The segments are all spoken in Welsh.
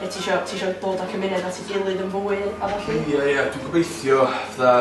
Be ti isio, ti isio dod a cymuned at ei gilydd yn fwy a ballu? Ia ia dwi'n gobeithio fatha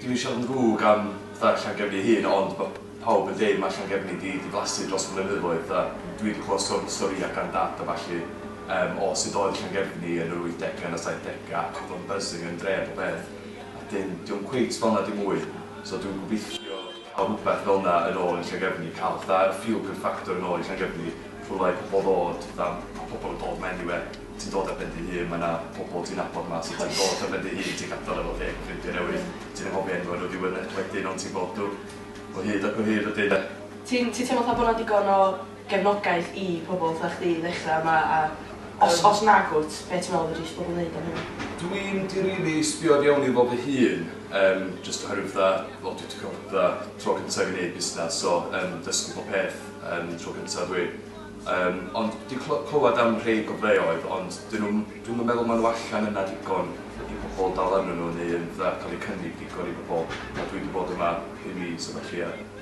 dwi'm isio fod yn ddrwg am fatha Llangefni ei hun ond ma' pawb yn deud ma' Llangefni 'di diflasu dros y blynyddoedd a dwi 'di clywed stor- storïa gan dad a ballu yym o sut oedd Llangefni yn yr wythdega yn y saithdega ac o'dd o'n buzzing yn dre a popeth a 'dyn 'di o'm cweit felna dim mwy so dwi'n gobeithio Cael rhywbeth fel 'na yn ôl yn Llangefni, cael fatha'r fuel card factor yn ôl i Llangefni, full like pobl ddod fatha, ma' pobl yn dod 'ma eniwe, ti'n dod ar ben dy hun, ma' 'na pobl ti'n nabod 'ma so ti'n dod ar ben dy hun, ti'n gadal efo thing, ffrindia newydd, ti'n anghofio enwa nhw ddiwedd y wedyn ond ti'n gweld nhw o hyd ac o hyd wedyn 'de. Ti'n ti'n teimlo fatha bo 'na digon o gefnogaeth i pobl fatha chdi i ddechra yma a os os nag wt, be ti'n meddwl fedri isio pobl neud am hynny? Dwi'm di rili sbio o'r iawn i fo fy hun yym jyst oherwydd fatha wel dwi di ca'l fatha tro cynta i fi neud busnas so yym dysgu bob peth yym tro cynta dwi yym ond di cly- clywad am rhei gofleoedd ond dyn nw'm dwi'm yn meddwl ma' nw allan yna digon i pobol dal arnyn nw neu yn fatha ca'l eu cynnig digon i bobol a dwi di bod yma pum mis a ballu a